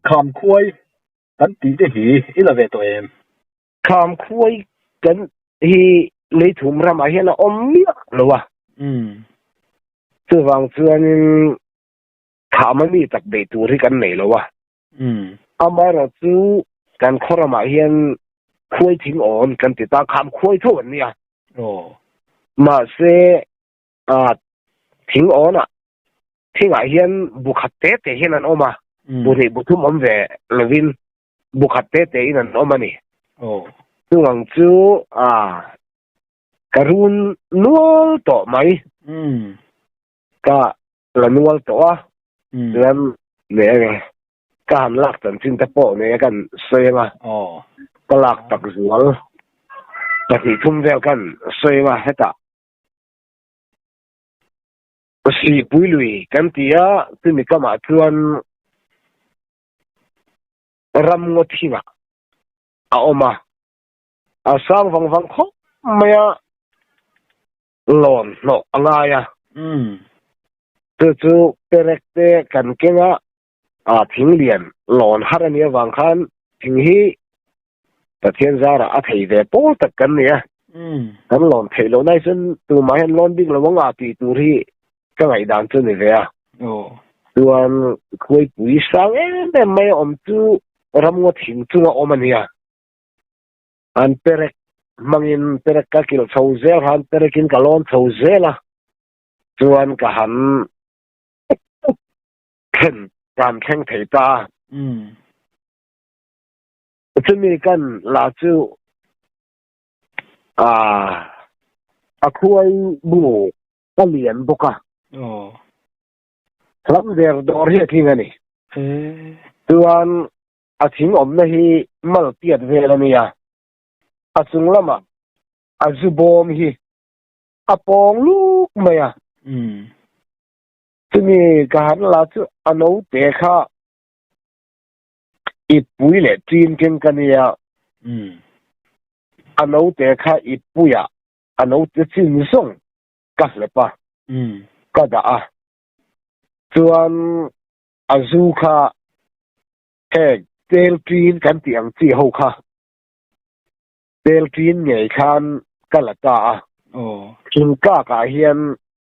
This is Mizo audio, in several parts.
Kham khuai kan tih te hi i la ve tawh em? Kham khuai kan hi lei thum ramah hian a awm miah lo a. Chuvang chuanin thah mami tak beih tur hi kan nei lo a. Amaherawh chu kan khawramah hian khuai thing awn kan ti ta, kham khuai tho an nia. Mahse, thing awnah thingah hian bu khat te te hian an awm a, bu hnih bu thum awm ve lovin bu khat te te in an awm a ni. Chungang chu ka run nual tawh mai. Ka la nual tawh a ram nei a nge ka han lak chan chin te pawh nei a kan sawi anga ka lak tak zual pahnih thum vel kan sawi anga heta si pui lui kan ti a chu ni kama chuan ram ngo thinga a oma a sang vang vang kho maya lawn hnawh a ngai a. Chu chu perek te kan keng a, aa thing lian lawn har a nih avang khan thing hi Pathian zarah a thei ve pawl tak kan ni a. Kan lawn theih loh nai chuan tumah hian lawn bik lo a nga tih tur hi ka ngaihdan chu ni ve a. Chuan khuaipui sang em em mai a awm chu ramngaw thing chunga awm a nia. An perek hmangin perek ka kilh chho zel han perekin ka lawn chho zel a, chuan ka han thlen ka han thleng thei ta a. Chumi kan la chu a khuai bu a lian bawk a, lam der dawr hi a tling a ni. Chuan A thing awmna hi mal piat vel a nia. A chung lamah a zu bawm hi a pawng luk mai a. Chumi ka han la chu a naute kha i pui leh ṭin keng ka nia. A naute kha i puia a naute chin zawng ka hlep a, ka dah a. Chuan A zu kha heng Teltrin kan tih ang chi ho kha Teltrin ngei khan ka la ta a. Aw. Thingkak ah hian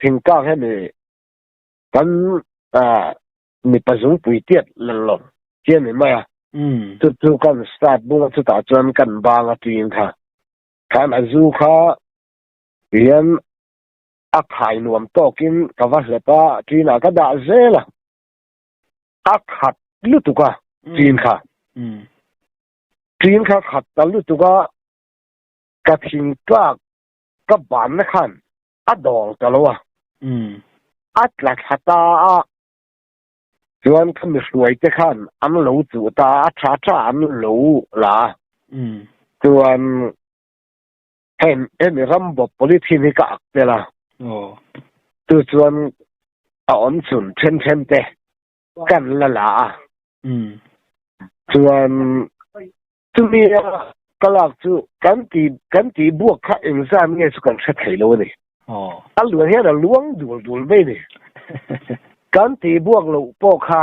Thingkak he ni kan mipa zungpui tiat lang lo hi a ni mai a. Umm. Chu chu kan start bung a chutah chuan kan bang a trin kha. Khan a zu kha hian A khai nuam tawkin ka va hlep a, ṭinah ka dah zel a, a khat lutuk a ṭin kha, ṭin kha khat ta lutuk a, ka thing tlak ka banna khan a dawng ta lo a, a tla thla ta a, chuan ka mihruai te khan an lo chuh ta a, a ṭha ṭha an lo la a, chuan Heng hemi ram bawp polythene hi ka ak tel a. Aw. Tu chuan a awm chhun then then te kan la la a. Umm. Chuan chumi a ka lak chu kan ti kan ti buak kha engzan nge chu kan hre thei lo a ni. Aw. A luan hian a luang dul dul mai a ni. Kan ti buak loh pawh kha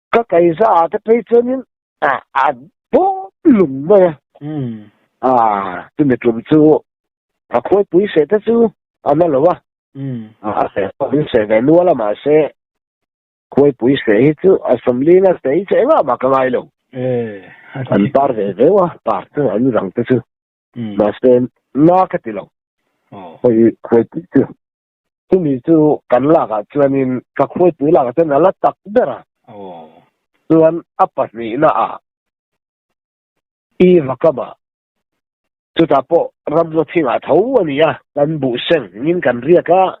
Ka kaihza ah te phei chuan in a bawm lum mai a. Aaa, chu mitlum chu a khuaipui seh te chu a la lo a. A seh pawh in seh ve nual a mahse khuaipui seh hi chu a sawmli na seh hi chu engah mah ka ngai lo. An par ve veu a pa chu an rang te chu. Mahse na ka ti lo. Khuaipui chu. Chumi chu kan lakah chuanin ka khuaipui lakah chuan a la tak ber a. Chuan a pahnihna ah Eva ka mah. Chutah pawh ramngaw thingah tho a ni a. Kan buhseng ngin kan riak a,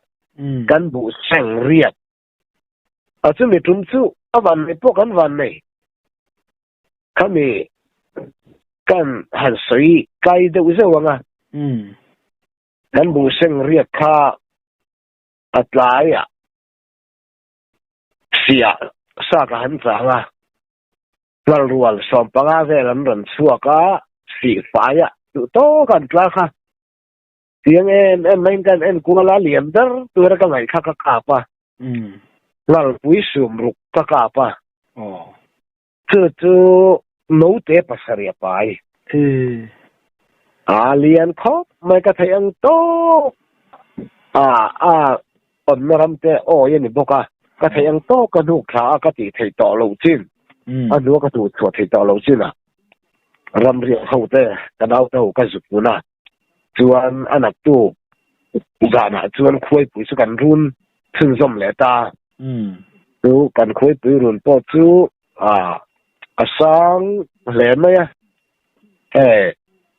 kan buhseng riat a chumi tum chu a vannei pawh kan vannei. Khami kan han sawi kai deuh zeuh ang a. Kan buhseng riat kha a tlaiah siah saka han chang a, Hmalrual sawm panga vel an rawn chhuak a, sih faiah duhtawk an tlar kha. Tiang em em mahin ka en kual a, lian ber tura ka ngaih kha ka kap a, Ngalpui sum ruk ka kap a. Chu chu naute pasarih a pai. Hi, a lian khawp mai ka theih ang tawk. A, a awmna ram te awi a ni bawk a, ka theih ang tawk ka hnuk thla a ka tih theih tawh loh chin. A hnua ka tuhchhuah theih tawh loh chin a, ramriah ho te ka nauta ho ka zut hun a. Chuan a naktu zanah chuan khuaipui chu kan run chhunzawm leh ta. Chu kan khuaipui run pawh chu a sang hle mai a, hei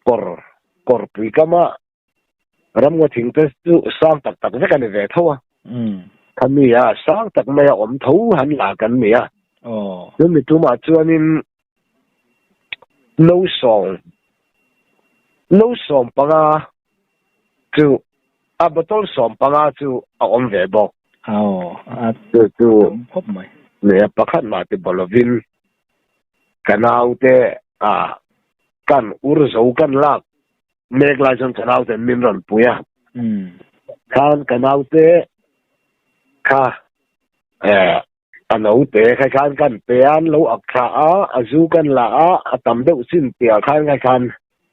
kawr kawr pui tlama ramngaw thing te chu sang tak tak vek a ni ve tho a, khami a sang tak mai a awm tho han la kan ni a. Chu mi tumah chuanin no sawm no sawm panga chu a bottle sawm panga chu a awm ve bawk aw a chu chu khawp mai nea pakhat mah te baw lovin ka naute a kan ur zo kan lak mek lai chuan ka naute min rawn pui a khan ka naute kha eh A naute kha khan kan pe an lo ak thla a, a zu kan la a, a tam deuh chin tih ah khan kha khan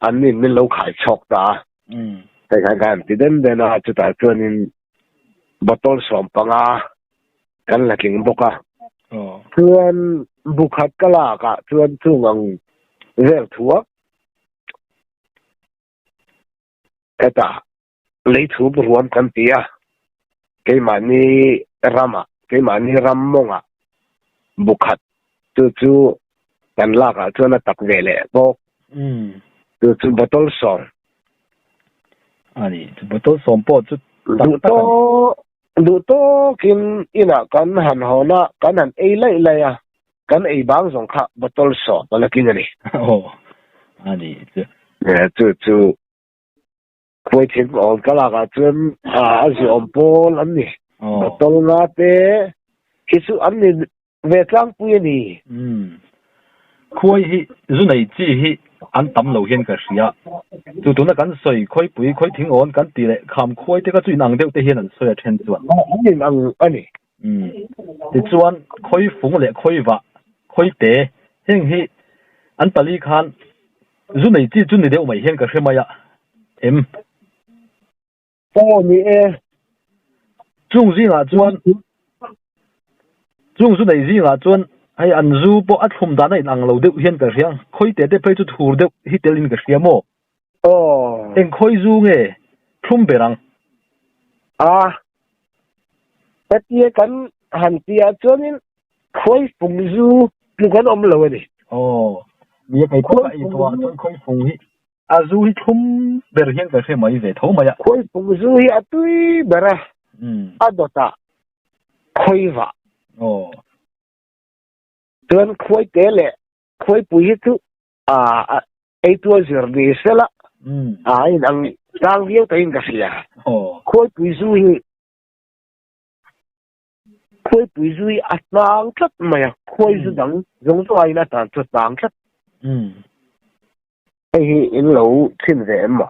an in min lo khai chhawk ta a. Kha khan kan ti den den a, chutah chuan in bottle sawm panga kan la tling bawk a. Chuan bu khat ka lak ah chuan chung ang vel thuak ka ta. Lei chhum ruam kan ti a, keimahni ramah, keimahni ram mawngah bu khat tu chu kan lakah chuan a tak ve leh bawk. Tu chu bottle sawm. A ni, chu bottle sawm pawh chu tak tak a ni. Duh tawk, duh tawkin inah kan han hawn a, kan han ei laih laih a, kan ei bang zawng kha bottle sawm a la tling a ni. Aw, a ni chu. Chu chu. Puitling awm ka lakah chuan a ziawm pawl an ni. Bottle nga te hi chu an ni ve tlangpui a ni. Khuai hi zu nei chi hi an tam lo hian ka hria. Chu tuna kan sawi Khuaipui, Khuaithing awn kan tih leh kham khuai te kha chu inang deuh te hian an sawi a then chuan. An inang a ni. tichuan khawi fung leh khawi vah khawi te heng hi an pali khan zu nei chi chu ni deuh mai hian ka hre mai a em pawh ni e chung zingah chuan chung zu nei zingah chuan hei an zu pawh a thlum dan a in ang lo deuh hian ka hriang khawi te te phei chu thur deuh hi telin ka hria maw Eng khawi zu nge thlum ber ang. Ah, ka tia kan han piah chuanin khawi fung zu chu kan awm lo a ni. Aw, mi a kei pawh a ei tawh ah chuan khawi fung hi a zu hi thlum ber hian ka hre mai ve tho mai a. Khawi fung zu hi a tui ber a, a dawt a khawi vah. Aw. Chuan khawi te leh khawi pui hi chu a eitur zir ni se la a in ang tlang viau ta in ka hria khuaipui zu hi khuaipui zu hi a tlang tlat mai a khuai zu dang zong zong a in a tlang tlat tlang tlat hei hi in lo thin ve em ma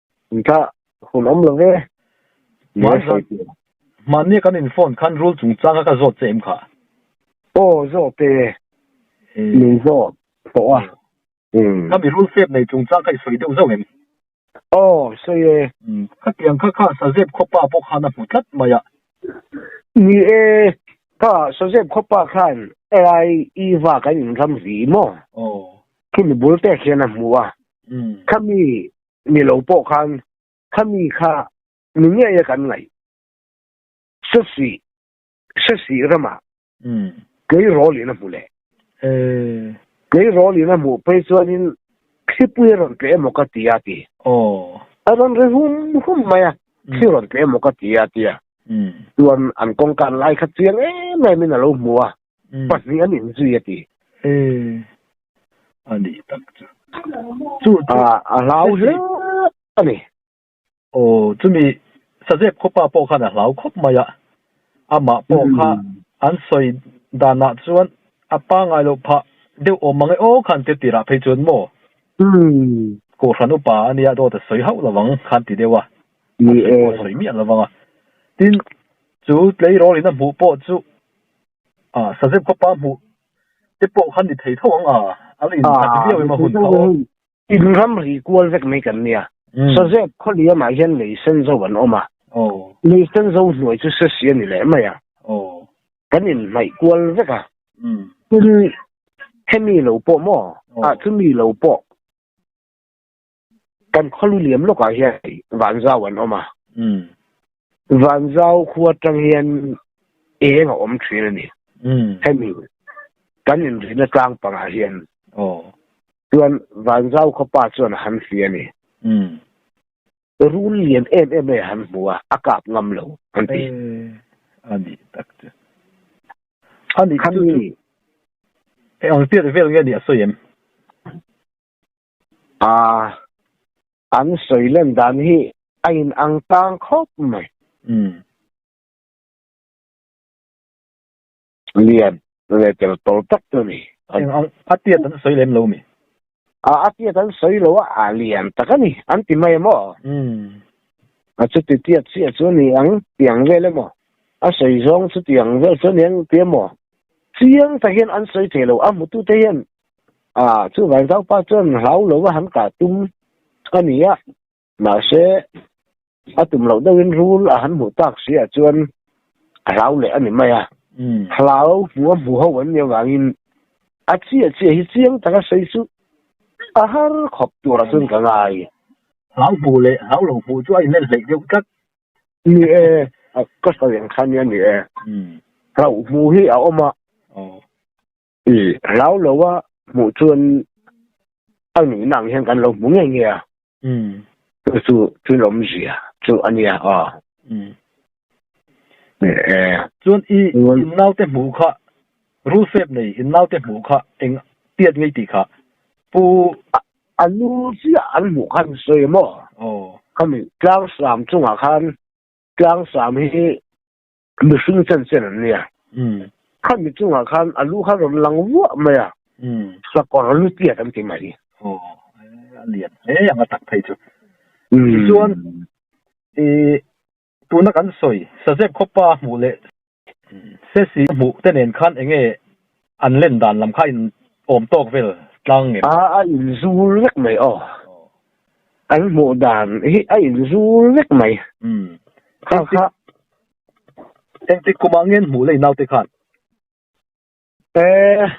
Intla hun awm lo e. Hmaan zan, hmaan nge kan in phone khan rule chung changa ka zawt che em kha? Aw zawt e, min zawt tawh a. Ka mi rule fep nei chung chang kha i sawi deuh zauh em? Aw sawi e. Khatiang kha kha Sazep khaw pa pawh khan a hmu tlat mai a. Ni e, kha Sazep khaw pa khan AI i va kan in ram vi maw? Khimi bul pek hian a hmu a. Khami Ni lo pawh khan khami kha ni ngeia kan ngaih. Sasi, Sasi rama kei rawl in a hmu le. Kei rawl in a hmuh phei chuanin thlipui a rawn pe emaw ka ti a ti. A rawn ri hum hum mai a, thli rawn pe emaw ka ti a ti a. Chuan an kawngka an lai khat chiang em em in a lo hmu a. pahnih an inzui a ti. He a nih tak chu. Chu chu a hlau hle a ni. Aw, chumi Sazep khawpa pawh khan a hlau khawp mai a, amah pawh kha an sawi danah chuan a pangai lo phah deuh awm ang e aw khan ti tirah phei chuan maw Kohhran upa a nia dawt a sawi hauh lo ang khan ti deuh a, a sawi pawh a sawi miah lo ang a. Tin, chu tleirawl in a hmuh pawh chu A Sazep kha pa hmuh te pawh khan ni thei tho ang a, a la insak viau em a hun kha aw. In ramri kual vek mai kan nia, Sazep khaw liam ah hian lei sen zo an awm a, lei sen zo hnuai chu sesi a ni leh mai a, kan in hnaih kual vek a, tin hemi lo pawh maw, ah chu mi lo pawh. Kan khaw lu liam lawkah hian vanzau an awm a. Vanzau khua atang hian eng a awm thin a ni. Hemi kan inrinna tlang pangah hian chuan vanzau khaw pa chuan a han hli a ni. Rul lian em em mai a han hmu a, a kap ngam lo an ti. A ni tak chu. Khami chu chu engpiak vel nge a nih a sawi em? Aa, an sawi lan dan hi a in ang tlang khawp mai. Umm. Lian leh tel tawlh tak chu ni. Eng ang, a tiat an sawi lem lo mi? Aa, a tiat an sawi lo a, a lian tak a ni, an ti mai emaw? Umm. A chuti tiat chiah chu a ni ang ti ang vel emaw? A sawi zawng chuti ang vel chu a ni ang ti emaw? Chiang tak hian an sawi thei lo, a hmutute hian A, chu vai zau pa chuan hlau lo a han kah tum a ni a, mahse a tum loh deuhin rul a han hmuh tak si ah chuan a hlau leh a ni mai a. Hlau hmu a hmu ho an nih avangin a chiah chiah hi chiang taka sawi chu a har khawp tur ah chuan ka ngai. Hlau hmu leh hlau lo hmu chu a inmelh hleih deuh tlat. Ni e, ka sawi ang kha nia ni e. Hlau hmu hi a awm a. I hlau lo a hmuh chuan a nuhna ang hian kan lo hmu ngei ngei a. Chu chu chu lawmzia chu a nia aw. Chuan i innaute hmuh kha rul fep nei innaute hmuh kha eng tiat ngei tih kha pu a nu chiah an hmuh khan sawi maw? Aw. Khami tlangsam chungah khan tlangsam hi Mihring chen chen an nia. Khami chungah khan a lu kha rawn lang vuah mai a, sakawr lu tiat an ti mai. Aw, a lian hle ang a tak phei chu. Tichuan, i tuna kan sawi, Sazep khawpa hmuh leh Ceci hmuh te nen khan enge An len dan lam kha in awm tawk vel tlang em? A a inzul vek mai aw. An hmuh dan hi a inzul vek mai. Umm. Kha kha. Engtik kum angen hmuh lei naute khan? Eh.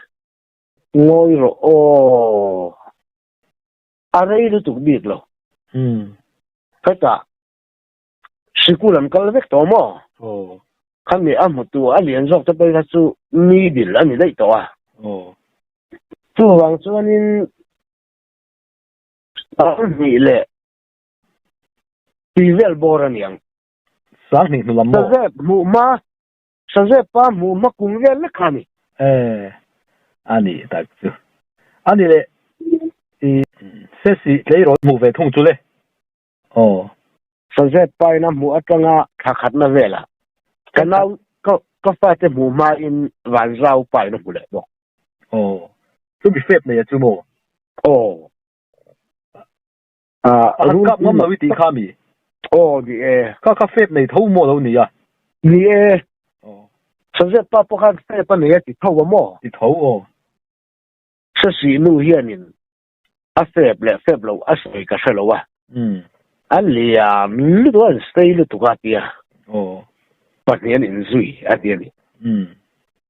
Ngawi rawh aw. A rei lutuk bik lo. Umm. Hetah. Sikul an kal vek tawh maw? Aw. Khami a hmutu a lian zawk te pawh kha chu mi bil a ni daih tawh a. Aw. Chuvang chuanin Sahnghnih leh Pivel bawr a niang. Sahnghnih hnu lam maw? Sazep hmuh hma, Sazep pa hmuh hma kung vel lek kha a ni. He, a nih tak chu. A ni leh. Sesi, Tleirawl hmuh ve thung chu le? Aw. Sazet pain a hmuh atang a thla khatna velah. Ka nau, ka, ka fate hmuh hmain vanzau pain a hmu leh bawk. Aw. Chumi fep neia chu maw? Aw. Ah, a han kap ngam lo i tih kha mi? Aw, ni e. Kha kha fep nei tho maw lo ni a? Ni e. Aw. Sazet pa pawh khan fep a nei a ti tho a maw? Ti tho aw. Sasi nu hianin a fep leh fep loh a sawi ka hre lo a, umm, a liam lutuk a an stay lutuk a tia, aw, pahnih an inzui a ti a ni, umm,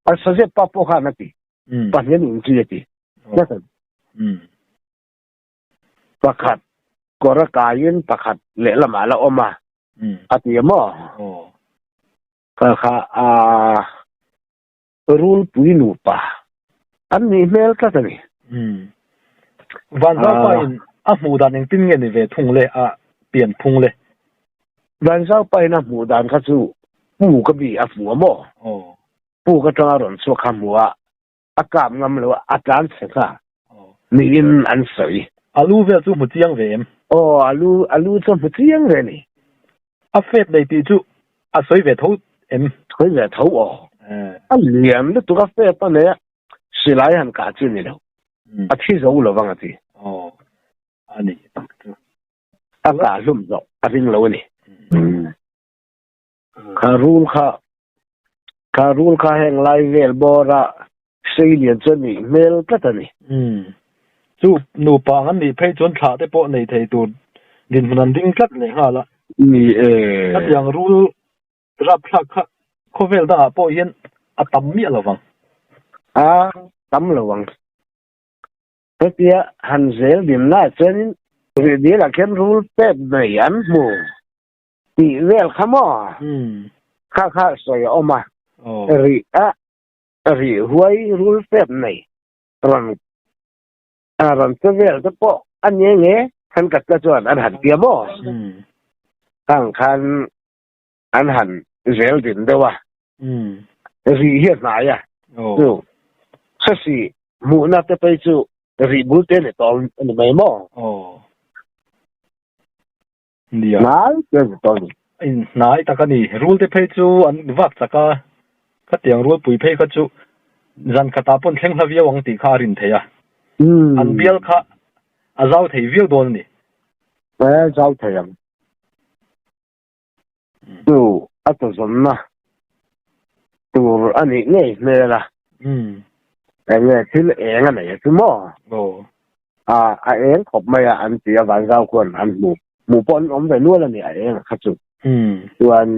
a saw zep pa pawh khan a ti, umm, pahnih an inzui a ti, aw, ka sawi, umm, pakhat kawr a kaiin pakhat lehlamah a la awm a, umm, a ti a maw, aw, ka kha aa, Rulpui nupa an nih hmel tlat a ni. Umm. Vanzaupa in a hmuh dan engtin nge ni ve thung le a pian phung le? Vanzaupa in a hmuh dan kha chu Pu ka bi a hmu a maw? Aw. Pu ka tanga rawn chhuak kha hmu a, a kap ngam lo a, a tlan thlen kha Niin an sawi. Alu vel chu hmu chiang ve em? Aw, alu, alu chuan hmu chiang ve ni. A fat nei tih chu a sawi ve tho em? Sawi ve tho aw. A lian lutuk a fat a nei a, silai han kah chu nilo, a thi zo lo vang a ti. Aw, a ni tak chu. A kah hlum zawh a ring lo a ni. Kha rul kha, kha rul kha heng lai vel bawra sei lian chuan nih hmel tlat a ni. Umm. Chu nupang an nih phei chuan thlah te pawh nei thei tur dinhmun an ding tlat leh nghal a. Ni e. Hetiang rul rapthlak kha khawvel dangah pawh hian a tam miah lo vang. A tam lo vang. Hetia han zel dinna ah chuanin Rihdil ah khian rul pet nei an hmu. tih vel kha maw kha kha sawi a awm a rih a rih huai rul fep nei rawn a rawn che vel te pawh a nge nge khan ka tla chuan an han tia maw hang khan an han zel din deuh a rih hi a hnai a chu sasi hmuhna te pei chu rih bul te ni tawh a ni mai maw Nia. Hnai te zi tawh a ni. In hnai tak a ni. Rul te phei chu an vak chak a, khatiang rul pui phei kha chu zan khatah pawn thleng hla viau ang tih kha a rin thei a. An bial kha a zau thei viau dawn a ni. Aa zau thei ang. Chu a chawzawmna tur a nih ngei hmel a. Enge thil eng a nei a chu maw? Aw. A a eng khawp mai a an ti a, Vanzau khuan an hmu. Hmu pawh an awm ve nual a ni a engah kha chu. Chuan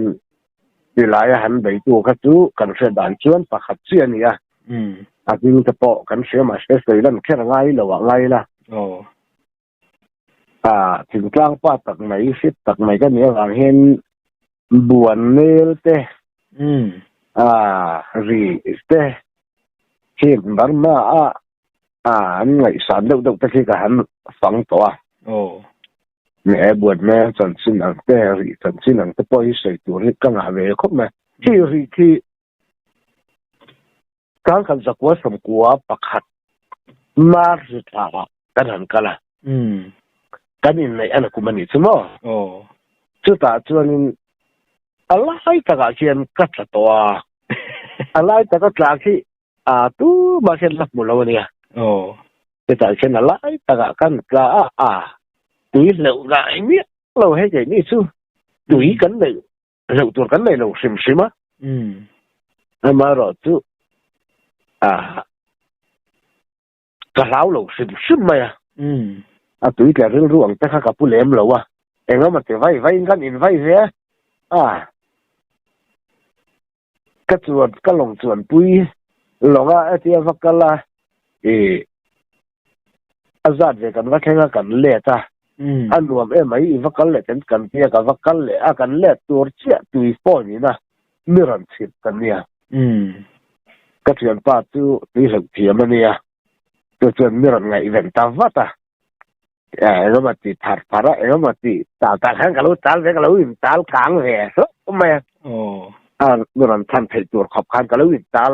tilai a han beitu kha chu kan hre dan chuan pakhat chi a ni a, a hming te pawh kan hria mah se Soilan kher ngai lo ah ngai la. A thingtlang pa tak mai, hriat tak mai ka nih avang hian buan nel te, aah rih te khi Burma a aah an ngaihsan deuh deuh te khi ka han fang tawh a, ni e, buan nel chanchin ang te, rih chanchin ang te pawh hi sawi tur hi ka ngah ve khawp mai, khi rih khi Kan kan zakua samkua pakhat mar zi thla kan han kal a, kan inneih a na kum a nih chu maw? Chutah chuanin a lai takah khian ka tla tawh a, a lai taka tla khi tumah khian la hmu lo a nia. Chutah khian a lai takah kan tla a, tui hleuh rah miah lo he keini chu tui kan neih hleuh tur kan nei lo hrim hrim a. Umm. Amaherawh chu ah ka hlau lo hrim hrim mai a. Umm. A tui tler rilru ang te kha ka pu lem lo a, engemawti vai vaiin kan invite ve a. Ah. Ka chuan, ka lawng chuan pui, lawng a, a tia va kal a, ih, A zat ve kan va thleng a kan let a, a nuam em mai i va kal leh kan kan tia ka va kal leh a kan let tur chiah tui pawn in a mi rawn chhip ka nia ka thianpa chu tui hlauh thiam a nia chu chuan mi rawn ngaih veng ta vat a engemaw ti thar thar a engemaw ti tal tal hian ka lo tal ve ka lo in tal kang ve hlauh mai a a mi rawn chhan theih tur khawp khan ka lo in tal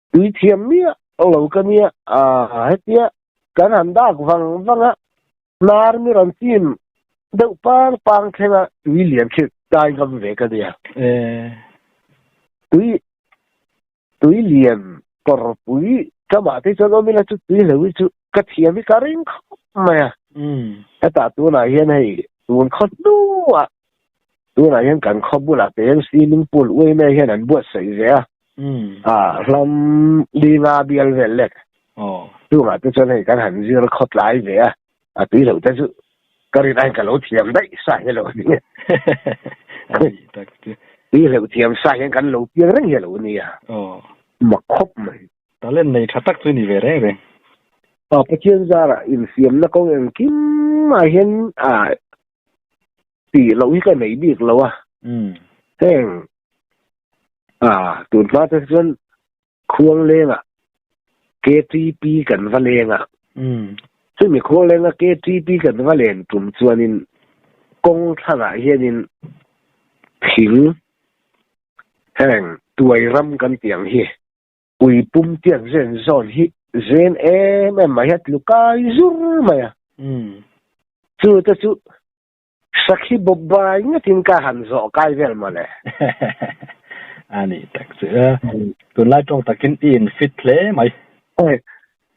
Tui thiam miah ang lo ka nia, aah hetia kan han dak vang vang a, hnar mir an chim deuh pang pang thleng a tui lian chhit dai ngam ve ka nia. Tui tui lian kawr pui ka mah te chuan awm ila chu tui hlauh hi chu ka thiam hi ka ring khawp mai a, hetah tunah hian hei tun khaw hnuah tunah hian kan khaw bulah te hian swimming pool uai mai hian an buat saih ve a a hlam ni nga bial vel lek chungah te chuan hei kan han zir khaw tlai ve a a tui loh te chu ka rin ain ka lo thiam daih sah hi lo ni nge tui hleuh thiam sah hian kan lo piang reng hi lo ni a ma khawp mai talent nei tha tak chu ni ve reng reng a pathian zara infiamna kawng engkim ah hian a ti lo hi ka nei bik lo a um heng a tun hma te chuan khuang lenga KTP kan va lenga um chumi khuang lenga KTP kan va len tum chuanin kong thlangah hianin thing heng tuai ram kan tiang hi Ui pum tiak zen zawn hi zen em em mai a tlu kai zur mai a. Umm. Chuta chu sakhi bawp bai ngatin ka han zawh kai vel mawle. A ni tak che a. Tunlai tawng takin i in fit hle mai. Aweh.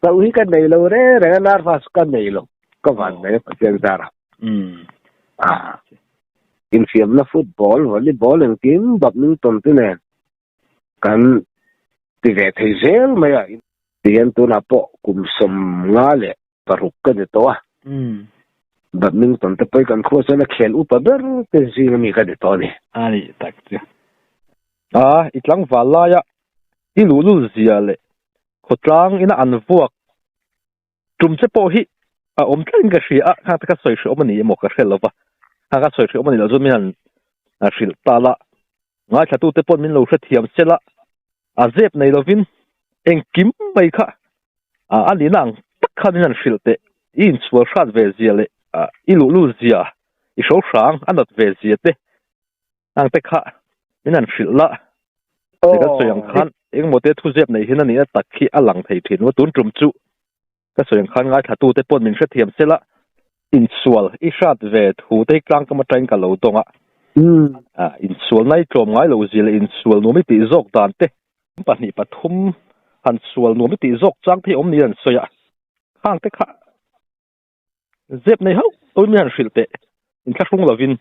Ka u hi ka nei lo reng reng a nar hma chu ka nei lo. Ka van mai a Pathian zar a. Umm. Ahh. Infiamna football, volleyball engkim bapmington te nen Kan ti ve thei zel mai a. Ti hian tunah pawh kum sawm nga leh paruk ka ni tawh a. Badminton te pawhin kan khua chuan a khel upa ber te zing ami ka ni tawh a ni. A ni tak chu. A i tlangval laia i luhlul zia leh khawtlang ina an vuak Tum che pawh hi a awm tlain ka hria a, khang te ka sawi hriawm a ni emaw ka hre lo va, khang ka sawi hriawm a nih loh chuan min han hrilh tal a, ngaithlatute pawn min lo hrethiam sel a, a zep nei lovin engkim mai kha a nihna ang tak khan min han hrilh teh, i inchhual hrat ve zia leh i luh lut zia, i hrohrang a nat ve zia te. Ang te kha min an hrilh la. Ni ka sawi ang khan eng maw te thu zep nei hian a nih na tak khi a lang thei thin maw tun tum chu ka sawi ang khan ngai thla tu te pawn min hre thiam se la in sual i hrat ve thu te tlang kam atang ka lo dawng a hmm. a in sual nai tlawm ngai lo zil in sual nu mi ti zok dan te pahnih pathum han sual nu mi ti zok chang thei om ni an sawi a khang te kha Zep nei hauh pawh mian hrilh teh in thla hrung lovin.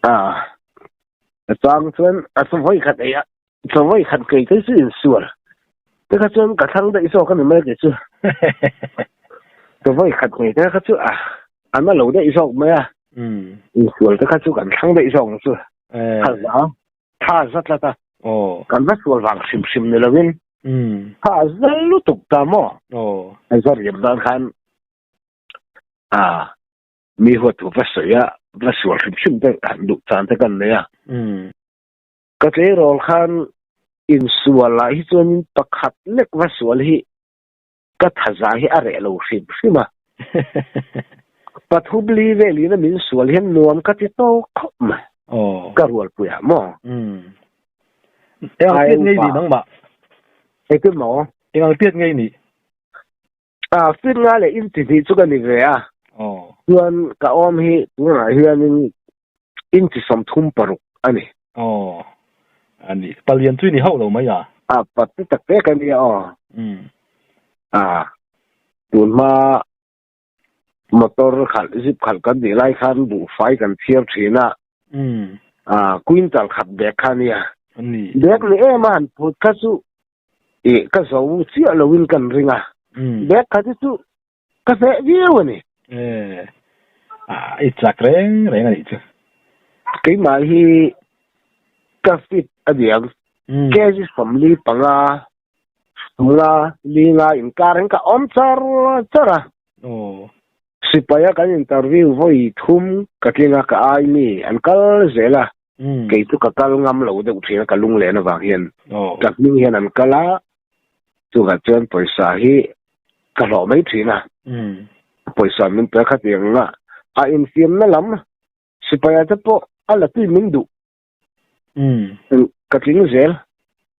Ah, a chang chuan a chawhmawih khat eia, chawhmawih khat kei te chu in sual. Te kha chuan ka thlang daih zawk a ni mai ke chu. Chawhmawih khat kei te kha chu a an a lo daih zawk mai a. In sual te kha chu kan thlang daih zawk ang chu. Khalh zau. Tha za tlat a. Aw. Kan va sual vang hrim hrim ni lo in. Umm. Tha za lutuk ta maw? Aw. A za riam dan khan ah mi huat thu va sawi a, va sual hrim hrim te han duh chan te kan nei a. Umm. Ka tleirawl khan insual ah hi chuan in pakhat lek va sual hi Ka thaza hi a reh lo hrim hrim a. Pathupli velin a min sual hian nuam ka ti tawk khawp mai. Aww. Ka rualpui ah maw? Umm. Engang piat ngei nih nangmah? Engtin maw? Engang piat ngei nih? Ah, feet nga leh inti hnih chu ka ni ve a. Aww. Chuan ka awm hi tunah hianin Inchi sawmthum paruk a ni. Aw. A ni. Palian chu i ni hauh lo mai a. A pati tak tak a nia aw. Umm. A. Tun hma motor khalh zip khalh kan nih lai khan buhfai kan phiar thin a. Umm. A quintal khat bag kha nia. A ni. Bag ni em a han phut kha chu ih ka zo chiah lo in kan ring a. Umm. Bag khat hi chu Ka hleh viau a ni. Eh, ah, i tlak reng reng a nih chu. Keimah hi ka fit a ni ang. Cases family panga sula linga inkar in ka awm char char a. Aw. Sipaia kan interview vawi thum ka tling a, ka ai mi an kal zel a. kei chu ka kal ngam lo deuh thin a ka lung lehna vang hian ka hming hian an kal a, chuvah chuan pawisa hi ka hlawh mai thin a, pawisa min pe khat eng anga a infiamna lam sipaia te pawh a la tui min duh chuan ka tling zel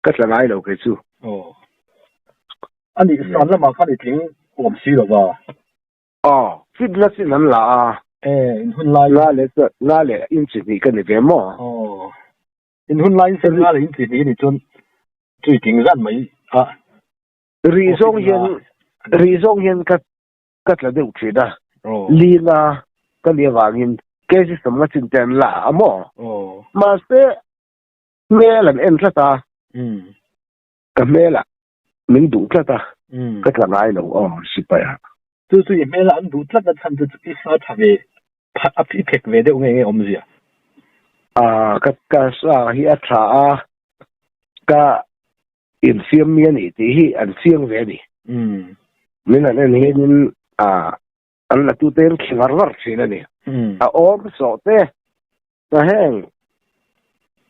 ka tla ngai lo kei chu. Aw, ani san lamah khan i tling huam si lova? Aw, chit na chin an la a. E, in hun laiin. Nga leh chuan, nga leh in chi hnih ka ni ve maw? Aw, in hun laiin se nga leh in chi hnih a ni chuan tui ting zan mai a. Rih zawng hian, rih zawng hian ka ka tla deuh thin a. Aw. Lina ka nih avangin Casey sam nga chin te an la a maw? Aw. Mahse, hmel an en tlat a. Umm. Ka hmel ah Min duh tlat a, ka tla ngai lo aw, Sipaya. Chu chu i hmel a, an duh tlat a chhan te chu i sa tha ve, i phek ve deuh nge nge awm zia? Ah, ka ka sa hi a tha a, ka infiam mi a nih tih hi an fiang ve a ni. Min han en hian in, ah, an la tute an khi var var thin a ni a awm sawh te ta heng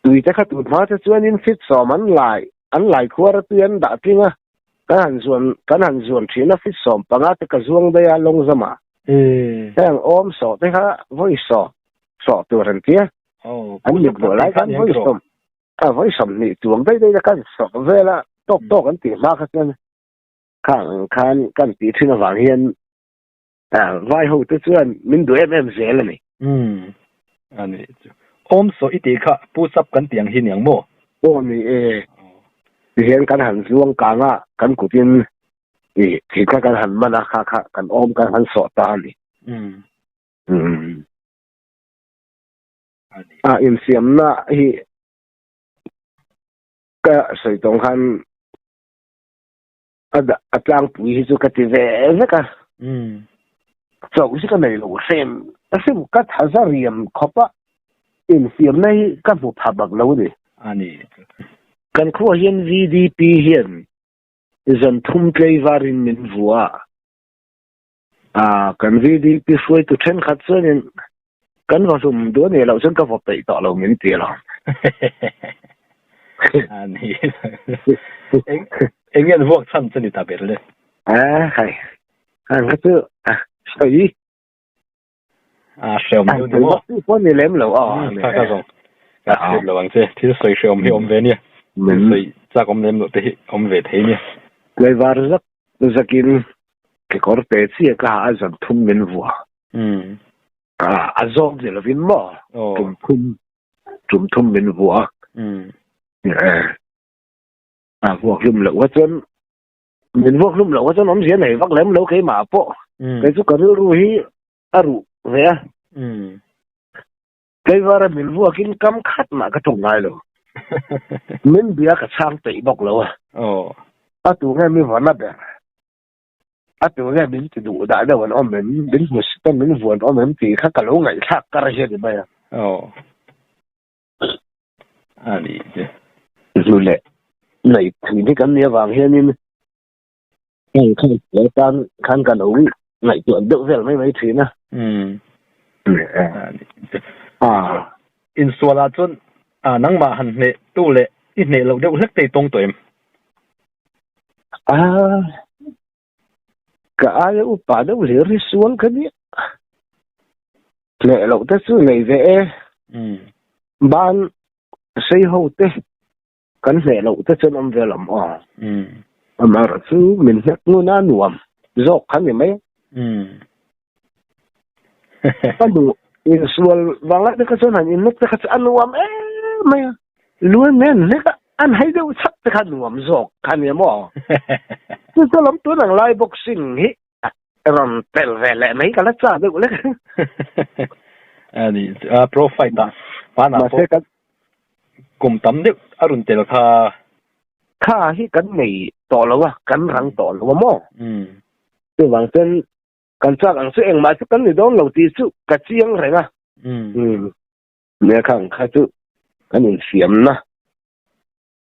tui te kha tut hma te chuan in fit sawm an lai an lai khuar a tui an dah tling a kan han zuan kan han zuan thin a fit sawm panga te ka zuang dai a long zama heng awm sawh te kha voi sawh sawh tur han tia an mit lo lai kan voi sawm a voi sawm ni tuam dai dai la kan sawh vela tawk tawk an tih hma kha chuan Khang ang khan kan tih thin avang hian vai ho te chuan min duh em em zel a ni. Umm, a ni chu. Awm saw i tih kha pu sap kan tih ang hi niang maw? Aw a ni e. Tihian kan han zuang kang a kan kutin i thin kha kan han man a kha kha kan awm kan han sawh ta a ni. Umm. A insiamna hi ka sawi tawng khan a dah a tlangpui hi chu ka ti ve vek a umm chauh zika nei lo hrem hrim ka thaza riam khawp a infiamna hi ka hmu pha bak lo ni a ni kan khuaah hian vdp hian zan thum tlei varin min vua. Aa, kan VDP hruaitu thenkhat chuanin kan va hlum duh nih loh chuan ka vawp daih tawh lo min ti lo. A ni eng eng nge an vuak chhan chu ni ta ber le. Aa, hai. Kha chu, a, sawi. a hreawm deuh ni maw tu pawh ni lem lo a ka ka zawng ka hriat lo ang che thil sawi hreawm hi awm ve nia thil sawi chak awm lem loh te hi awm ve thei nia tlaivar zak zakin kekawr pe chiah ka ha a zan thum min vua ka a zawk ni lovin maw tum thum tum thum min vua a vuak hlum loh a chuan min ruak hlum lo kha chuan awmzia nei vak lem lo keimah pawh kei chu ka rilru hi a ruh ve a tleivara min ruakin kam khat mah ka tawk ngai lo min bia ka chhang peih bawk lo a a tu nge mi vana ber a tu nge min ti duh dah deuh an awm em min hmu si chuan min vuan awm em tih kha ka lo ngaihthlak kar hi a ni mai a. a ni che zu leh nei thei dik an nih avang hianin hei khan he tan khan ka lo ngaihtuah deuh vel mai mai thin a a insual ah chuan nangmah han hneh tu leh i hneh loh deuh hlek te i tawng tawh em a Ka ai a upa deuh hle ri sual ka nia. Hleh loh te chu nei ve e. Ban sei ho te kan hneh loh te chuan awm ve lam aw. Amar chu min hnek ngun a nuam zawk kha ni mai. ka lu in sual vang a tika chuan han in mek te kha chu a nuam em mai a luan mai a ni hlek a an hai deuh chap te kha a nuam zawk kha ni maw chu chu lam tun ang lai boxing hi a rawn pel ve leh mai ka la chah deuh lek a ni a pro fight ah hmanah pawh kum tam deuh a rawn tel kha kha hi kan nei tawh lo a kan rang tawh lo a maw chuvang chuan Kan chak ang chu engmah chu kan ni dawn lo tih chu ka chiang reng a. Umm. Nekhang kha chu kan infiamna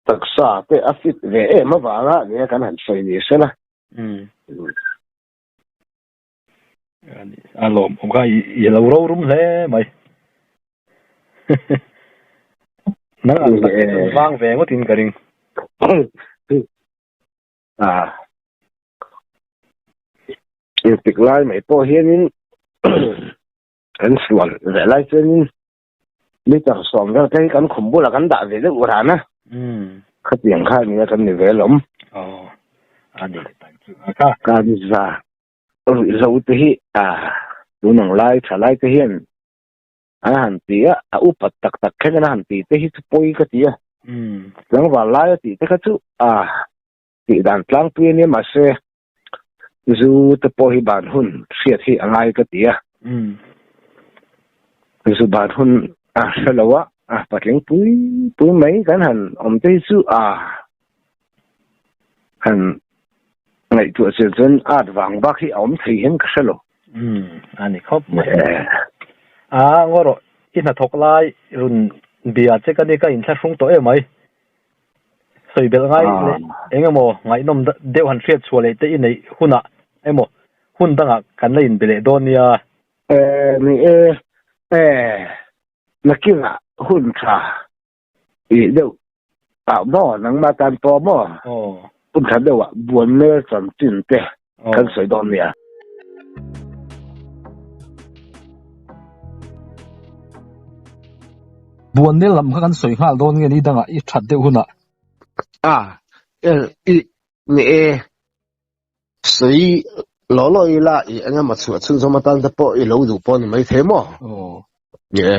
taksa te a fit ve em avanga a nia kan han sawi ni se la. Umm. A lawm awm kha i lo rorum hle mai. Nang ang tak hi chu vang ve ngawtin ka ring. ah irtik lai mai pawh hianin kan suan leh lai chuanin litre sawm vel te hi kan khum bulah kan dah ve deuh ran a khatiang kha a ni a kan ni ve lawm kaniza ruih zo te hi ah tunang lai tha lai te hian A han ti a, a upat tak tak khen in a han ti te hi chu pawi ka ti a. Umm, tlangval lai a tih te kha chu a tih dan tlangpui a nia mahse Zu te pawh hi ban hun hriat hi a ngai ka ti a. Umm, Zu ban hun a hre lo a, a patling pui pui mai kan han awm te hi chu a Kan ngaihtuah chian chuan art vang bak hi a awm thei hian ka hre lo. Umm, a ni khawp mai. A ngaw rawh, i hnathawk lai run bia che ka ni, ka inthla hrung tawh e mai. Sawi belh ngai leh eng emaw ngaihnawm deuh han hriat chhuah leh te i neih hunah emaw hun dangah kan la inbe leh dawn nia. Ni e, na kingah hun tha Ih deuh. Au maw, nangma tan pawh maw? Pun tha deuh ah buan mel chan chin te kan sawi dawn nia. Buan mel lam kha kan sawi nghal dawn nge ni dangah i that deuh hun ah. Ah, el i ni e. Sawi law law ila i engemaw chhuah chhunzawm atan te pawh i lo duh pawh ni mai thei maw? Ni e.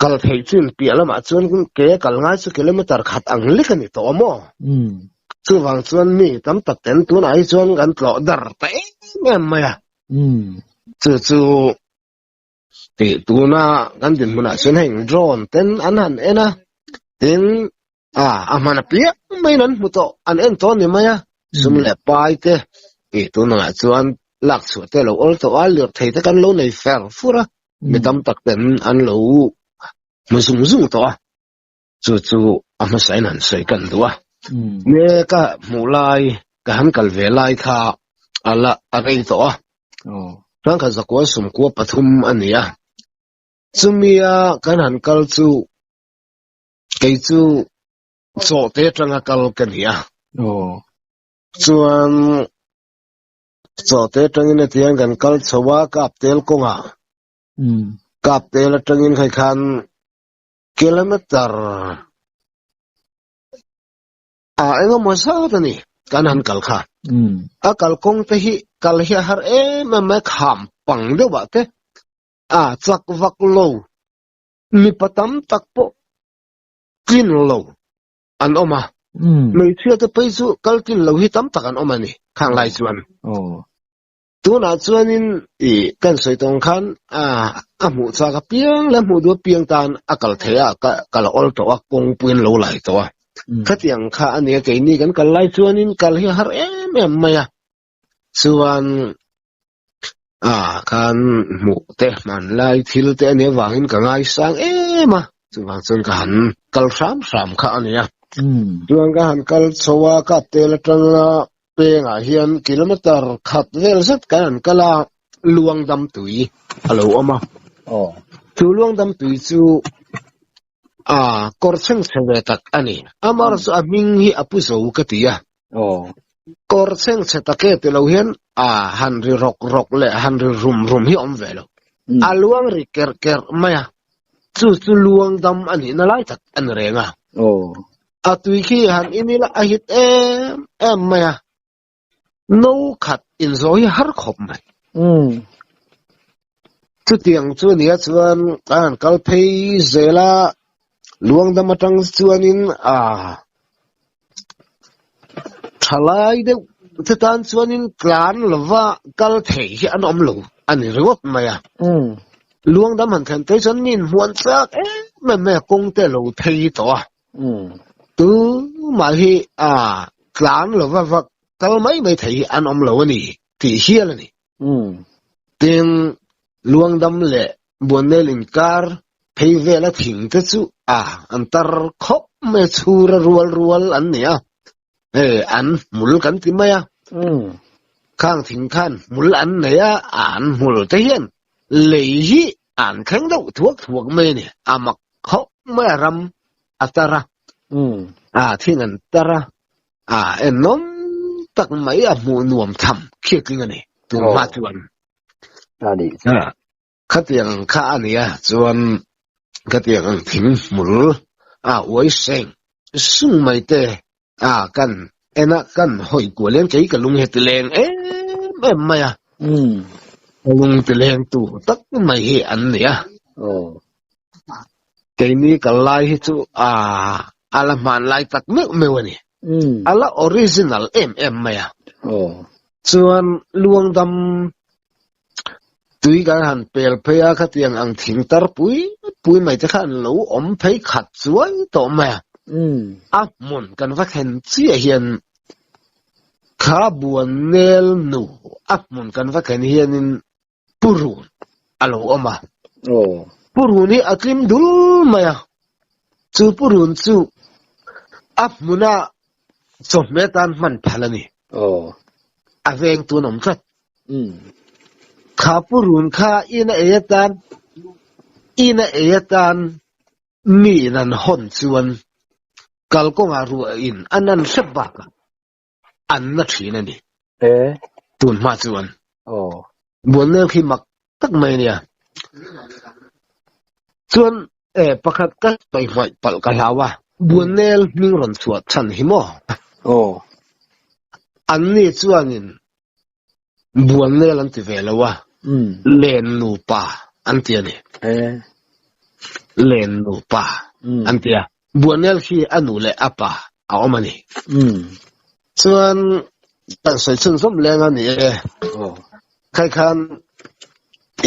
kal thei chin piah lamah chuan ke kal ngai chu kilometer khat ang lek a ni tawh a maw chuvang chuan mi tam tak ten tunah hi chuan kan tlawh dar ta em em mai a chu chu tih tuna kan dinhmunah chuan heng drone ten an han en a tin Ah, a hman a piah mai in an hmu tawh, an en tawh a ni mai a. Sum leh pai te, i tunah chuan lak chhuah te lo awl tawh a, lirthei te kan lo nei fer fur a, mi tam tak ten an lo hmu zung zung tawh a, chu chu a hmasa in han sawi kan duh a. Nge ka hmuh lai, ka han kal ve lai kha a la a rei tawh a, chuan kha zakua sum kua pathum a ni a, chumi a kan han kal chu Kei chu chawhte atanga kal ka ni a. Aw. Chuan chawhte atangin atiang kan kal chho a ka aptel kawnga. Um. Ka aptel atangin khai khan kilometer a engemaw zat a ni kan han kal kha. Um. A kal kawng te hi kal hi a har em em mai kham pang deuh ah te a chak vak lo mipa tam tak pawh tlin lo an awm a hmeichhia te pawh chu kal tlin lo hi tam tak an awm a ni khang lai chuan tunah chuanin i kan sawi tawng khan a a hmuh chak a piang leh hmuh duh piang tan a kal thei a ka ka la awl tawh a kawngpuiin lo lai tawh a khatiang kha a nia keini kan kal lai chuanin kal hi a har em em mai a chuan ah khan hmuh te hman lai thil te a nih avangin ka ngai sang em a chuvang chuan ka han kal hram hram kha a nia chuan ka han kal chho a ka tel atang a pengah hian kilometer khat vel zet kan han kal a luangdam tui a lo awm a chu luangdam tui chu. Ah, kawr chheng chhe ve tak a ni. Amar chu a hming hi a pu zo ka ti a. Aw. Kawr chheng chhe tak e ti lo hian a han ri rawk rawk leh a han ri rum rum hi a awm ve lo. A luang ri kerh kerh mai a, chu chu luang dam a nihna lai tak a ni reng a. Aw. A tui khi han in ila a hit em em mai a. no khat in zawi har khawp mai chutiang chu nia chuan a han kal phei zel a luangdam atang chuanin a thalai deuh te tan chuanin tlan lova kal thei hi an awm lo a ni ringawt mai a luangdam han thlen te hi chuan mi in hmuan chak em em mai a kawngte lo phei tawh a Chu mah hi a tlang lo va vak kal mai mai thei hi an awm lo a ni tih hial a ni. Tin, Luangdam leh Buannel inkar phei vela thing te chu a an tar khawp mai a, chhur a rual rual an ni a, hei an hmul kan ti mai a, khang thing khan hmul an nei a, an hmul te hian lei hi An thleng deuh thuak thuak mai a ni. A mak khawp mai a ram a tar a, a thin an tar a, a en nawm tak mai a hmuh nuam tham khiatling a ni tun hma chuan. Khatiang ang kha a nia chuan khatiang ang thing hmul a uai seng sung mai te Ah kan en a kan hawi kual em kei ka lung he ti leng em em mai a um ka lung ti leng tu tak mai hi an ni a oh keini ka lai hi chu a ala hman lai tak meuh meuh a ni um ala original em em mai a oh chuan luangdam tui kan han pel phei a khati ang ang thing tar pui pui mai te kha an lo awm phei khat chuai tawh mai a a hmun kan va thlen chiah hian kha buan nel nu a hmun kan va thlen hianin purun a lo awm a purun hi a tlim dul mai a chu purun chu a hmuna chawhmeh tan hman phal a ni a veng tun awm tlat Kha pu run kha ina ei atan ina ei atan mi in an hawn chuan kalkawngah ruah in a nan hrep bakah an na thin a ni. Tunhma chuan Bualnel khi mak tak mai nia chuan e pakhat ka pai hmai pal ka hlau a buanel hming ron chhuat than hi maw oh an ni chuanin buanel an ti ve lo a hmm. len nupa an ti ani eh. len nupa hmm. an ti a Buanel khi a nu leh a pa a awm a ni. Hmm. Chuan kan sawi chhun zawm leng a ni e. Oh. Khai khan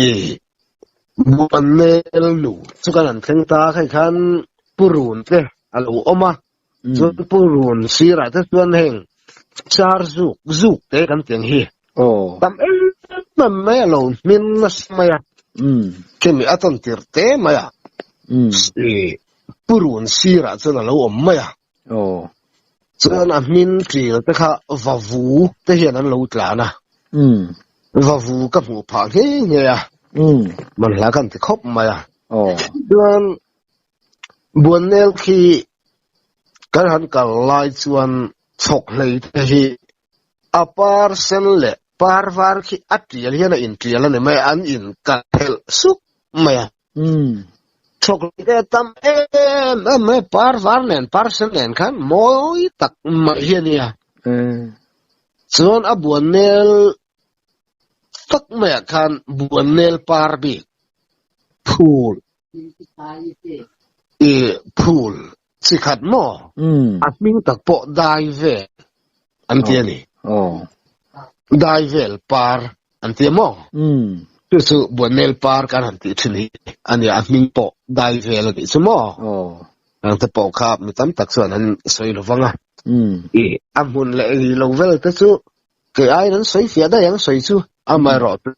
i Buanel nu chu kan an thleng ta khai khan Purun te a lo awm a. Hmm. Chuan Purun sirah te chuan heng char zuk zuk te kan tiang hi. Oh. Tam em em mai a lo hmin a si mai a. Hmm. Kemi a ton tir te mai a. Hmm. purun sirah chuan a lo awm mai a, chuan a hming ṭil te kha vavu te hian an lo tlan a, vavu ka hmuh phah nghe nghe a, hmanhla kan ti khawp mai a, chuan Buannel khi kan han kal lai chuan chhawkhlei te hi a par sen leh par var khi a ṭial hian a inṭial a ni mai a, an inkal phelh suk mai a. um chhawk leh tam em em mai par var nen par sen nen khan mawi tak mai hi a nia um chuan a buan nel tak mai ah khan buan nel par bik phul i phul si khat maw a hming tak pawh dai vel an ti a ni dai vel par an ti a maw chu chu buaimel par kan han tih thin hi a nia a hming pawh dai vel a nih chu maw ang te pawh kha mi tam tak chuan an sawi lo vang a i a hmun leh ri lo vel te chu kei aiin an sawi fiah daih ang sawi chu amaherawh chu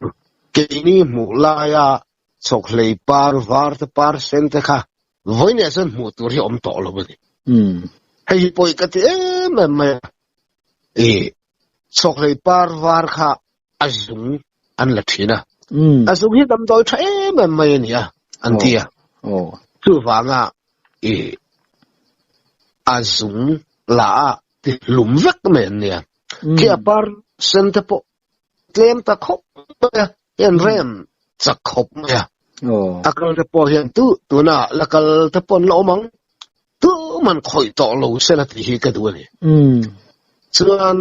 keini hmuh laia chawk hlei par var te par sen te kha vawi neh chuan hmuh tur hi awm tawh lo a ni hmm. hei hi pawh i ka ti em em mai e chhawklei par var kha a zung an la thin a hmm. a zung hi damdawi tha em em mai a ni a an oh. tia oh. chu vanga e a zung la a ti hlum vek mai an nia khi hmm. a par sen te pawh tlem ta khawp mai a hian hmm. rem chak khawp mai a akal te pawh hian tu tuna lakal te pawh lo mang tu man khoi to lo se la ti hi ka du ani hmm. chuan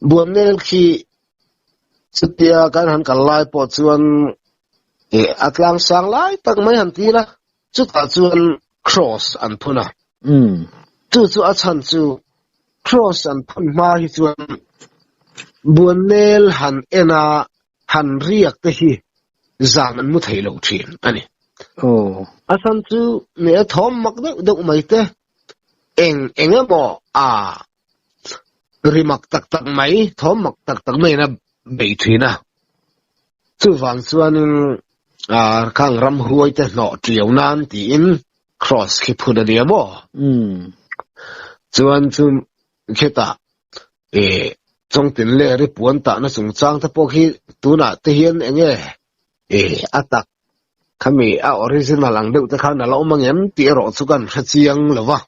buan nel khi chutia kan han kal lai pawh chuan e atlang sang lai tak mai han ti la Chutah chuan Cross an phun a. Umm. Chu chu a chhan chu Cross an phun hma hi chuan Buannel han ena han riak te hi zan an mu thei lo thin a ni. Aw. A chhan chu mi a thawm mak deuh deuh mai te eng eng emaw a ri mak tak tak mai thawm mak tak tak maiin a beih thin a, chuvang chuanin aaa khang ramhruai te hnawh ṭiau nan tiin kraws khi phun a nia maw? Umm chuan chu khetah eeh chawng tinle ri puan tahna chungchang te pawh khi tunah te hian eng nge eeh a tak khami a original ang deuh te khan a lo awm a ngem tih erawh chu ka han hre chiang lo va.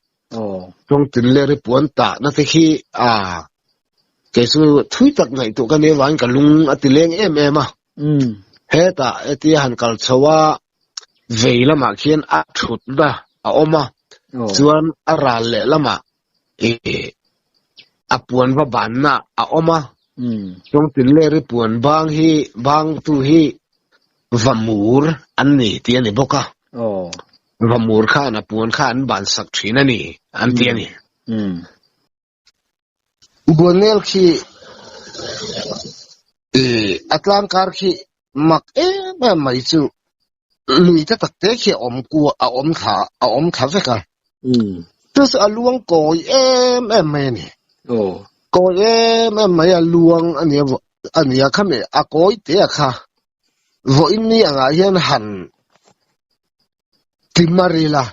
Kawng tinleh ri puan tah na te khi ah kei chu thui tak ngaih tu ka nia vang ka lung a ti leng em em a heta eti a han kal chho a vei lamah khian a thut na a awm a chuan a ral leh lamah e a puan va ban na a awm a kawng tinleh ri puan bang hi bang tu hi vamur an ni ti a ni bawk a Va mur khan a puan kha an ban sak thin a ni, an ti a ni. Buanel khi a tlangkar khi mak em em mai chu lui ta tak te khi a awm kuah, a awm thla, a awm thla vek a. Chu chu a luang kawi em em mai a ni. Kawi em em mai a luang a nia, a nia kham e, a kawi te a kha. vawiinni angah hian han ti mar ila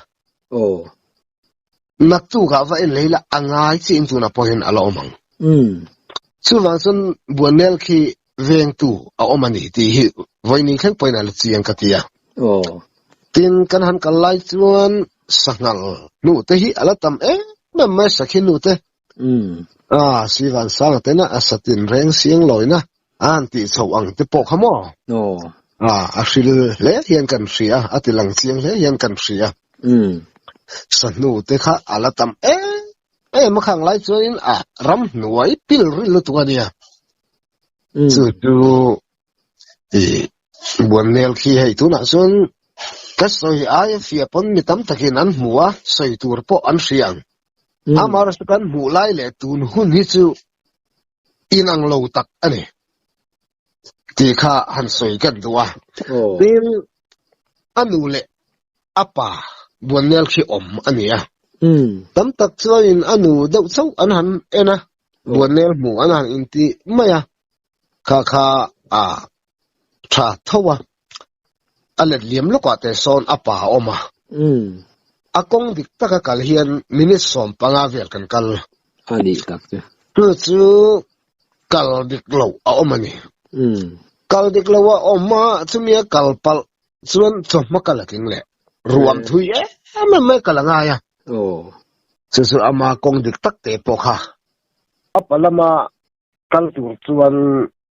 aw naktuk ah va en leh ila angai chi in tuna pawh hian ala awm ang um chuvang chuan buanel khi vengtu a awm ani ti hi vawiinni thleng pawhin ala chi ang ka ti a aw tin kan han kal lai chuan sanghal hnute hi ala tam em em mai sakhi hnute A Sivan Sanga tena a satin reng siang lawina an tih chho ang te pawh kha maw? Aw. A a hril hle hian kan hria a, a ti lang chiang hle hian kan hria. Sahnu te kha a la tam em em a khang lai chuanin a ram hnuai pil ril lutuk a nia. Chu chu i Buannel khi hei tunah chuan ka sawi aia fia pawn mi tam takin an hmu a, sawi tur pawh an hria ang. Hmm. Amar chu kan hmuh lai leh tun hun hi chu inang lo tak a ni. Ti kha han sawi kan du a. Oh. Tin a nu leh a pa buannel khi awm a ni a. Hmm. Tam tak chuanin a nu deuh chauh an han en a. Oh. Buannel hmuh an han inti mai a. Kha kha a Tha tho a, a let liam lawkah te sawn a pa a awm a. A kawng dik taka kal hian minute sawm panga vel kan kal. A nih tak che. Tu chu kal dik lo a awm a ni. Kal dik lo a awm a, chumi a kal palh chuan chawhma ka la tling leh. Ruam thui em em mai ka la ngai a. Chu chu ama kawng dik tak te pawh kha. A pa lama kal tur chuan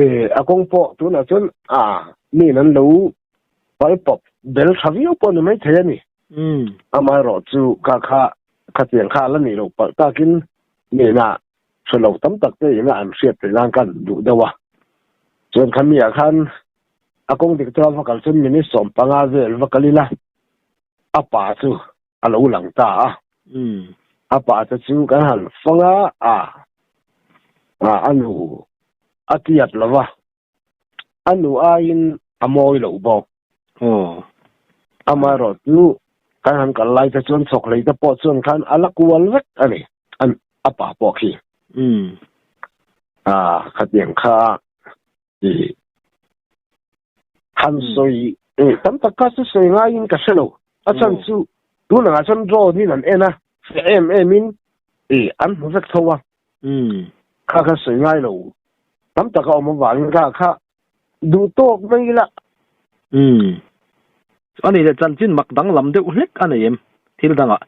E, a kawng pawh tunah chuan a min an lo vai pawp bel tha viau pawh a ni maithei a ni. Um. Amaherawh chu ka kha kha chiang kha a la nih loh palh takin mina thu lo tam tak te ina an hriat theih nan kha an duh deuh a. Chuan kha mi ah khan a kawng dik tura va kal chuan minute sawm panga vel va kal ila a pa chu a lo lang ta a. Umm, a pa te chu kan han fang a a, a a nu a tiat lo va, a nu aiin a mawi loh bawk. Aw, amaherawh chu kan han kal lai te chuan chawkhlei te pawh chuan khan a la kual vek a ni a pa pawh khi. Umm, a khatiang kha han sawi eh tam tak kha chu sawi ngaiin ka hrelo a chhan chu tunah chuan drone in an en a hre em em in eh an hmu vek tho a kha kha sawi ngai lo tam tak a awm avangin kha kha duh tawk mai ila a ni le chanchin mak dang lam deuh hlek a nei em thil dangah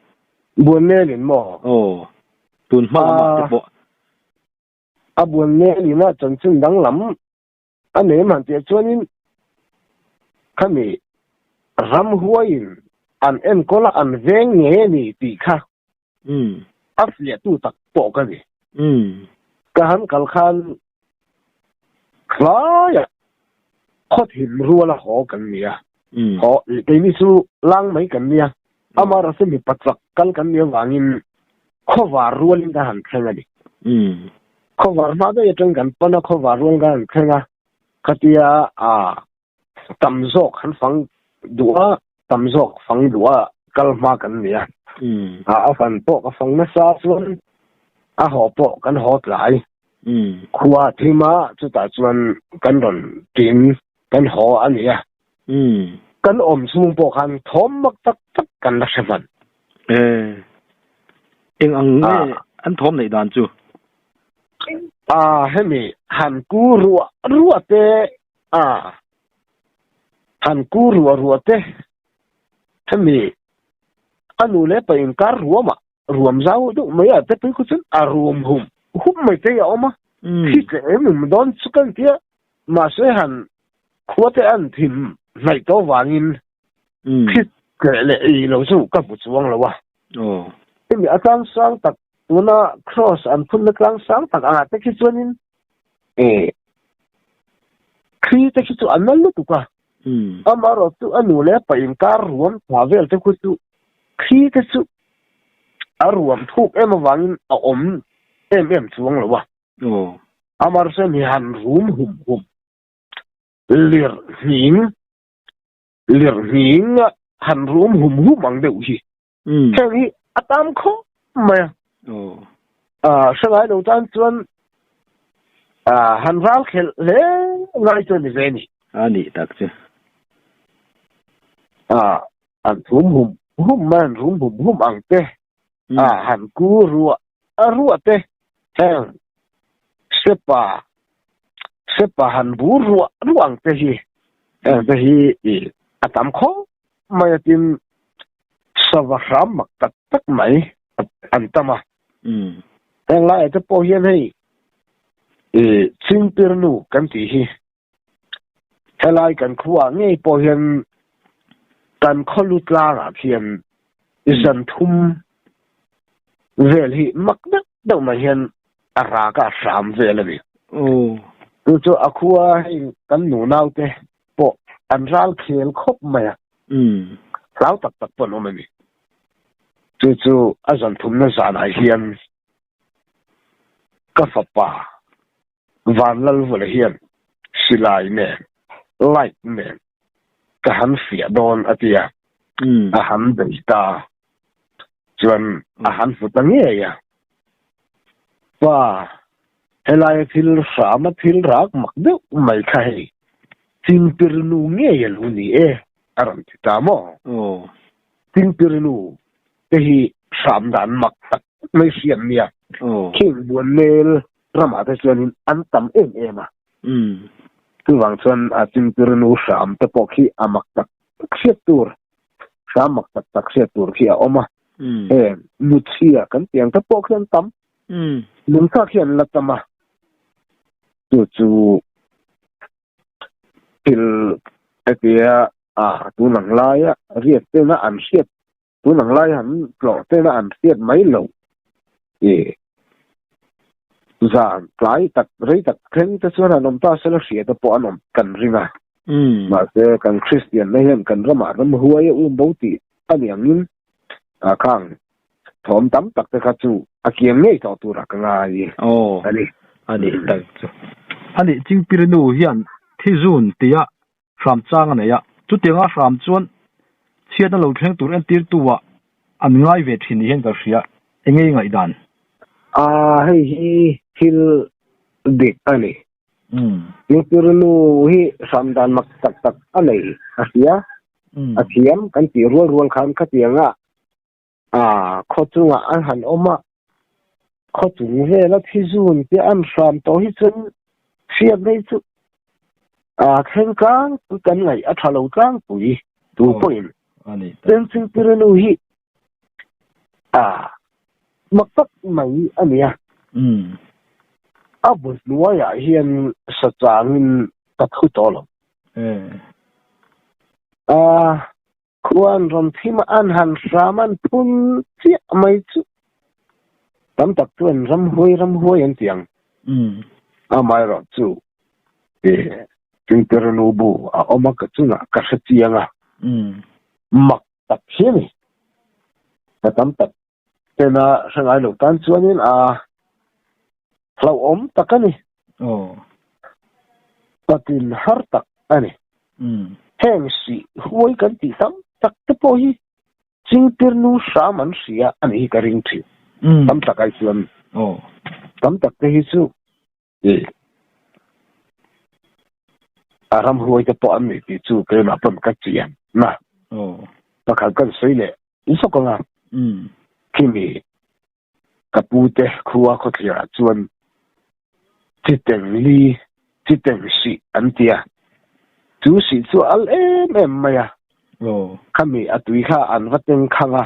buan melin maw aw tun hma lamah te pawh A buan nel in a chanchin danglam a nei man teh chuanin khami ram huaiin an enkawl a an veng nge ni tih kha a fiahtu tak pawh ka ni. Ka han kal khan hlaiah khawthim rual a haw kan ni a. Haw, keini chu lang mai kan nia. Ama rasa mipa chak kal kan nia vangin khawvar rualin ka han thleng a ni. Khawvar hma daih atang kan pan a, khawvar rual ka han thleng a. Khatia a tam zawk han fang duh a, tam zawk fang duh a kal hma kan nia. A fan pawh ka fang nasa chuan a haw pawh kan haw tlai. Khua thima chutah chuan kan rawn ṭin kan haw a nia. Umm. Kan awm chhung pawh khan thawm mak tak tak kan la hre hman. E. Eng ang nge an thawm neih dan chu? A, hemi han ku ruah ruah te, a, han ku ruah ruah te, hemi a nu leh pa inkar ruah mah Ruam zau deuh mai a te pui khaw chuan a ruam hum hum mai te hi a awm a, khi tleh em em dawn chu kan ti a, mahse han khua te an thim hnaih tawh vangin khi tleh leh ih lo chu ka hmu chuang lo a. Hemi a tlang sang tak tuna Kraws an phun na tlang sang tak ah te khi chuanin khi te khi chu a nal lutuk a. Amaherawhchu chu a nu leh pa inkar ruam tha vel te khu chu khi te chu a ruam thuk em avangin a awm em em chuang lo a. Amaherawh chu mi han rum hum hum, lir hning lir hninga han rum hum hum ang deuh hi Chang hi a tam khawp mai a. Hrangai lo tan chuan han ral khelh hle ngai chu a ni ve ni. A nih tak chu. An thum hum hum mai, an rum hum hum ang te han ku ruah A ruah te hian sepa sepa han bu ruah ruah ang te hi heng te hi ih a tam khawp mai a tin sava hram mak tak tak mai an tam a heng lai te pawh hian hei ih chingpirnu kan tih hi helai kan khuwa ngei pawh hian kan khawlu tlangah khian zan thum vel hi mak deuh deuh mai hian a raka hram vel a ni chu chu a khuwa hei kan nu naute pawh an ral khel khawp mai a hlau tak tak pawh an awm a ni chu chu a zan thumna zanah hian ka fapa Van Lalvula hian, Silai nen, light nen, ka han fiah dawn a ti a, a han bei ta a, chuan a han hmu ta ngei a. Pa, helai a thil hram a thil rak mak deuh mai kha hei, Chingpir nu ngei a lu ni e, a rawn ti ta maw? Chingpir nu te hi hram dan mak tak mai hriat nia, khengbuan nel Drama te chuanin an tam em em a. Umm. Chuvang chuan a chingtir nu hram te pawh khi a mak tak tak hriat tur, hram mak tak tak hriat tur khi a awm a. Heng, Nuchhia kan tih ang te pawh khi an tam. Nungchak khi an la cham a. Chu chu thil hetiha a tunang laia riat chena an hriat Tun ang lai han tlawh ten a an hriat mai lo e. Zan tlai tak rei tak thleng te chuan an awm ta se la hriat a pawh an awm kan ring a. Mahse kan Kristian na hian kan ramah ram huai a um bo tih a ni angin a khang thawm tam tak te kha chu a kiang ngei tawh turah ka ngai a ni. Anih tak chu. Anih Chingpirnu hian Thizun tia hram chang a nei a. Chutianga hram chuan chhiat na lo thleng tur entirtuah an ngai ve thin nih hian kan hria, engei ngaihdan? A, hei hi thil dik a ni. Lutternu hi hram dan mak tak tak a nei a hria. A thiam kan tih rual rual khan khatianga A khaw chungah an han awm a, khaw chung vela thi zun te an hram tawh hi chuan hriat mai chu a thleng tlangpui kan ngaih a tha lo tlangpui tu pawhin Tensing Pirenu hi a mak tak mai a nia. A bul hnuaiah hian sachangin ka thu tawh lo. A Khua an rawm thim a, an han hram a, an phun chiah mai chu. Tam tak chuan ram huai ram huai an ti ang. Amaherawh chu e Tingperanu bu a awm a, ka chungah ka hre chiang a, mak tak hian i ka tam tak Tena hrangai lo tan chuanin a hlauhawm tak a ni. Aw. Patin har tak a ni. Umm. Heng hrih huai kan tih tam tak te pawh hi chingtir nu hram an hrih a a nih hi ka ring thin. Umm. Tam tak ai chuan. Aw. Tam tak te hi chu A ram hruai te pawh an nei tih chu keimah pawn ka chih em na. Pakhat kan sawi leh zuk anga khimi ka pu te khua khawthlir ah chuan Chiteng li, Chiteng sih an ti a. Chu sih chu a al em em mai a. Khami a tui kha an va tengkhang a.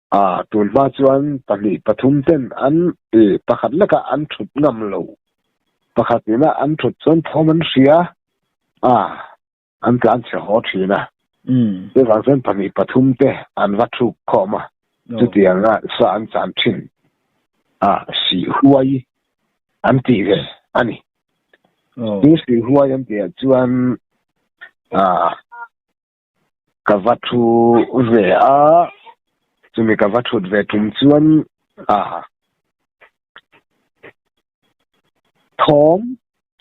A tul hma chuan pahnih pathum ten an i pakhat leka an thut ngam lo. Pakhat ina an thut chuan thawm an hria a, an tlan chhe haw thin a. Chuvang chuan pahnih pathum te an va thuk khawm a, chutiang a sa an chan thin a, si huai an tih ve a ni. Chu si huai an tihah chuan a. Ka va thu ve a, chumi ka va thut ve tum chuan ah thawm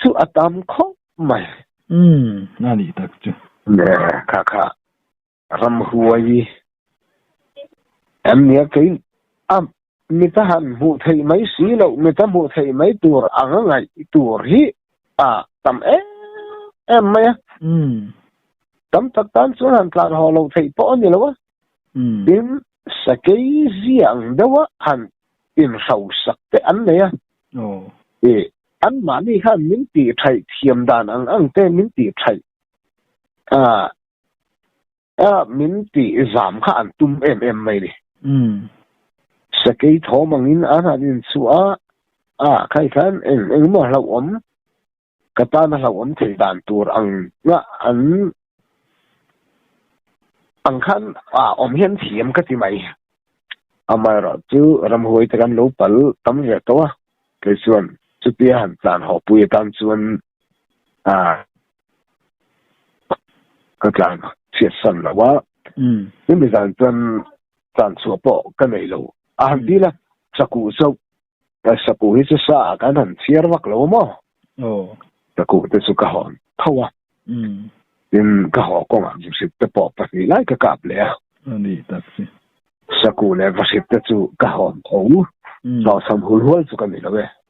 chu a tam khawp mai. Umm, a nih tak chu. Kha kha ramhuai em nia kei a Mita han hmuh theih mai si lo, mita hmuh theih mai tur a ngangaih tur hi a tam em em mai a. Tam tak tan chuan han tlan haw lo theih pawh a ni lo a, tin sakei zia ang deuha han inhrosak teh an nei a. I, anmahni khan min tih thaih thiam dan ang ang te min tih thaih. A. A min tih zam kha an tum em em mai ni. Umm. Sakei thawm angin a han inchhuah a, a khai khan eng eng maw hlauhawm ka tan a hlauhawm thei dan tur ang nga an ang khan a awm hian thiam ka ti mai. Amaherawh chu ramhuai te kan lo pal tam ve tawh a, kei chuan chutia han tlan haw pui atan chuan a ka tlan chhiat san lo a chumi zan chuan tlan chhuah pawh ka nei lo a han ti la saku chauh saku hi chu sa ah kan han chhiar vak lo maw oh saku te chu ka hawn tho a tin ka haw kawng ah vahrit te pawh pahnih lai ka kap leh a ani tak si saku leh vahrit te chu ka hawn tho hlawhsam hul hual chu ka ni lo e